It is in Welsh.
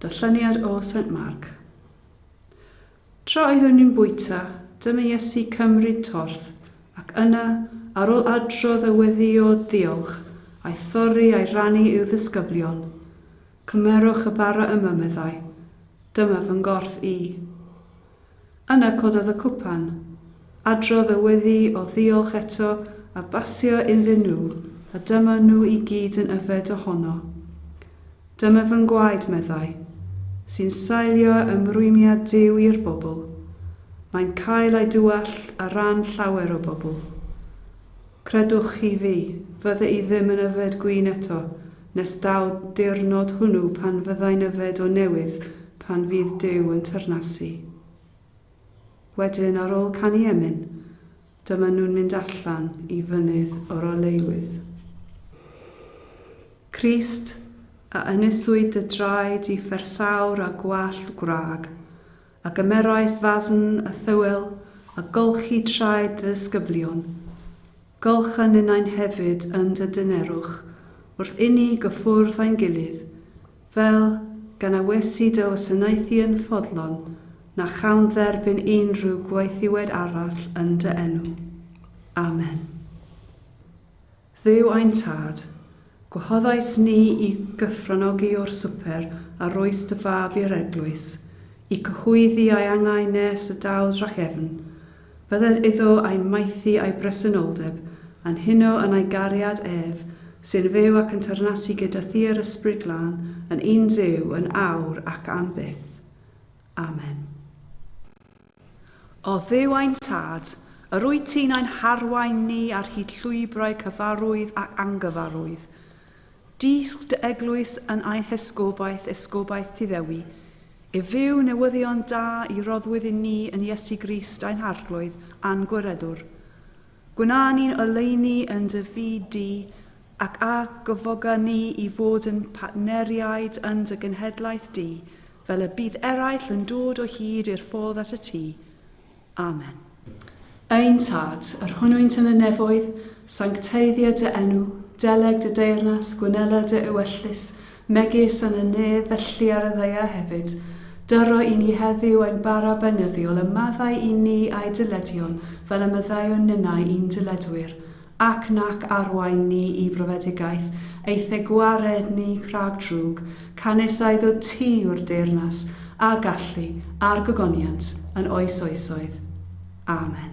Darlleniad o Saint Mark. Tra oeddwn i'n bwyta, dyma Iesu cymryd torth, ac yna, ar ôl adrodd a weddïo diolch, a'i thorri a'i rannu i'w ddisgyblion. Cymerwch y bara yma, meddai. Dyma fy nghorff i. Yna cododd y cwpan. Adrodd y weddi o ddiolch eto a basio iddyn nhw, a dyma nhw i gyd yn yfed ohono. Dyma fy ngwaed, meddai, sy'n sailio ymrwymiad Duw i'r bobl. Mae'n cael ei dywallt ar ran llawer o bobl. Credwch chi fi, fydde i ddim yn yfed gwin eto, Nes daw'r diwrnod hwnnw pan fyddai'n yfed o newydd pan fydd Duw yn tyrnasu. Wedyn, ar ôl canu emyn, dyma nhw'n mynd allan i Fynydd yr Oleuwydd. Crist, a yneswyd dy draed i fersawr a gwallt gwrag, a gymerais fasn a thywel a golchi traed dy ddisgyblion. Golch a ninnau'n hefyd yn dy dynerwch wrth inni gyffwrdd â'n gilydd, fel gan a wesi dy wasanaethu yn ffodlon, na chawn dderbyn unrhyw gwaethiwed arall yn dy enw. Amen. Dduw ein Tad, gwahoddais ni i gyfranogi o'r swper a rhois dy fab i'r eglwys, i cyhoeddi a'i angau nes y daw drachefn, bydded iddo a'i maethu a'i bresenoldeb, a'n huno yn ei gariad ef, sy'n fyw ac yn teyrnasu gyda thi yr Ysbryd Glân, yn un Duw, yn awr ac am byth. Amen. O Dduw ein Tad, yr wyt ti'n ein harwain ni ar hyd llwybrau cyfarwydd ac angyfarwydd. Dysg dy eglwys yn ein hesgobaeth, esgobaeth ti ddewi, i fyw newyddion da i roddwyd i ni yn Iesu Grist ein Harglwydd a'n Gwiredwr. Gwna ni'n oleuni yn dy fyd di, ac a gyfoga ni i fod yn partneriaid yn dy genhedlaeth di, Fel y bydd eraill yn dod o hyd i'r ffordd at y tŷ. Amen. Ein Tad, yr hwnnwynt yn y nefoedd, sancteiddia dy enw, deleg dy deyrnas, gwnela dy ewyllys, megis yn y nef, felly ar y ddaear hefyd. Dyro i ni heddiw ein bara beunyddiol, a maddau i ni a'i dyledion, fel y maddeuwn ninnau i'n dyledwyr. Ac nac arwain ni i brofedigaeth, eithe gwared ni rhag drwg, canys a iddo ti yw'r deyrnas, a gallu, a'r gogoniant, yn oes oesoedd. Amen.